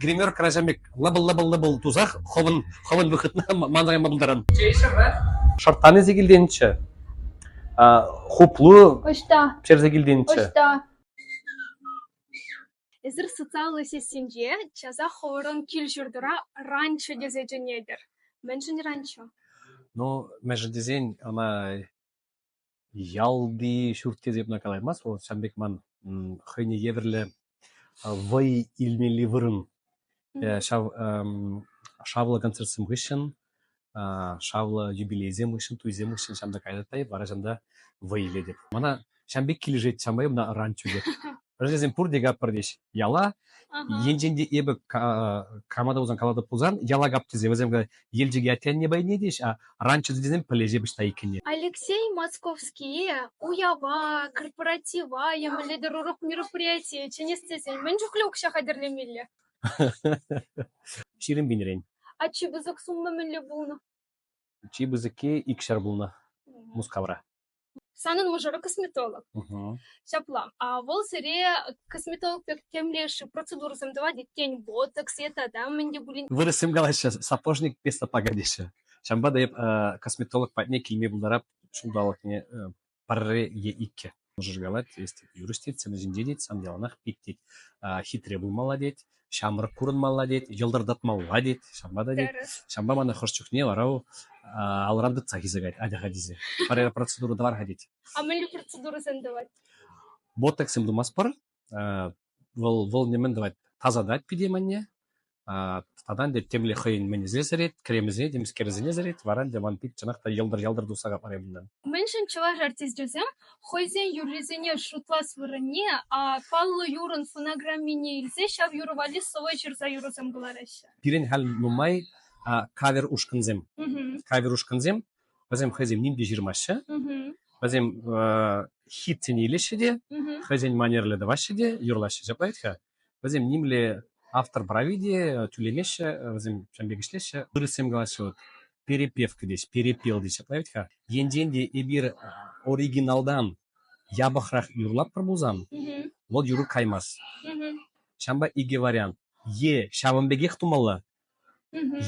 гримерка ачам пек лӑпӑл-лӑпӑл-лӑпӑл тусах хӑвӑн хӑвӑн выхӑтна манрайма пултаран. Шӑрттанӗсе килтенччӗ. Хуплу ӑҫта? Персе килтенччӗ. Ӑҫта? Эсир социаллӑ сессинче часах хӑвӑрӑн кил-ҫуртӑра ранчо тесе чӗнетӗр. Мӗншӗн ранчо? Ну, мӗншӗн тесен ӑна Ялти ҫурт-йӗр йӑтма калаймасть вӑл. Ҫавӑн пек ман хӑйне евӗрлӗ вӑй илмелли вырӑн. Ҫав шавлӑ концертсем хыҫҫӑн, шавлӑ юбилейсем хыҫҫӑн, туйсем хыҫҫӑн ҫам та кайнӑ та вара ҫам та вӑй илетӗп. Мана ҫам пек килӗшет, ҫампа ӑна ан чӳкӗт. Ачасем пурте каппӑртӗҫ яла. Енчен те эпӗ крамада пулсан, калатӑп пулсан, яла кап тесе вӗсем Елчӗке аттенне пайне тӗҫ, а раньше тесем пӗлӗҫе пӗҫта иккенне. Алексей Московские уява, корпоратива емеллетӗр урӑх мероприятие чӗнес тесен мӗн чухлӗ укҫа хатӗрлемелле? Ҫирӗм пинрен. А чи пысӑк сумма мӗнле пулнӑ? Чи пысӑкки икҫӗр пулнӑ Мускавра. Санӑн мӑшӑру косметолог. Ҫапла. Вӑл сире косметолог пек темле-ши процедурӑсем тӑвать, тен, ботокс е тата мӗн те пулин. Вырӑссем калаҫҫӗ, сапожник без сапога теҫҫӗ. Ҫавӑнпа та эп косметолог патне килме пултарап ҫулталӑкне пӗрре е иккӗ. Мӑшӑр калать, если юрист тет, сан ҫинче тет, сан яланах пит тет, хитре пулмалла тет. ҫамрӑк курӑнмалла тет, йӑлтӑртатмалла тет, ҫавӑнпа та тет. Ҫавӑнпа мана хӑш чухне вара алран тытса хисекать ачаха тесе. Пӗр процедура тӑвар-ха тет. А мӗнле процедурӑсем тӑвать? Ботоксем тумастпӑр. Вӑл вӑл нимӗн тӑвать тасатать пире манне. Татан те темле хӑйӗн мӗнӗсене сӗрет, кремӗсене, темскерӗсене сӗрет, вара те ман пит чӑнах та йӑлтӑр-йӑлтӑр туса капарӗ унтан. Мӗншӗн чӑваш артисчӗсем хӑйсен юррисене шутлас вырӑнне паллӑ юрӑн фонограммине илсе ҫав юрӑ валли сӑвӑ ҫырса юрӑсем кӑлараҫҫӗ. Пирӗн халь нумай кавер ушкӑнсем. Кавер ушкӑнсем вӗсем хӑйсем ним те ҫырмаҫҫӗ. Вӗсем хитсене илеҫҫӗ те, хӑйсен манерлӗ тӑваҫҫӗ те, юрлаҫҫӗ ҫапла вӗт-ха. Вӗсем нимле автор прави те тӳлемеҫҫӗ, вӗсем ҫавӑн пек ӗҫлеҫҫӗ. Вырӑссем калаҫҫӗ вот перепевка теҫ, перепел теҫҫӗ, править-ха. Енчен те эпир оригиналтан япӑхрах юрлатпӑр пулсан, вӑл юрӑ каймасть. Ҫавӑнпа икӗ вариант. Е ҫавӑн пекех тумалла,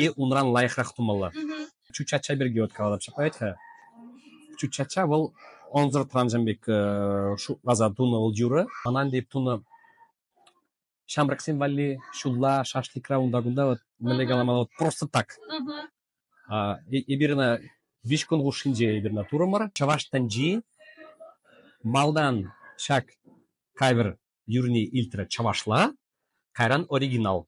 Е унран лайӑхрах тумалла. Чӳк чача пирки вот каланӑ ҫапать-ха. Чӳк чача вӑл ӑнсӑр тӑвансем пек шутласа тунӑ вӑл юрӑ. Манан тейп тунӑ ҫамрӑксем валли ҫулла шашлыкра унта-кунта вот мӗнле каламалла вот просто так. Эпир ӑна виҫ кун хушшинче эпир ӑна турӑмӑр. Чӑваш тӗнчи малтан ҫак кавер юрне илтрӗ чӑвашла, кайран оригинал.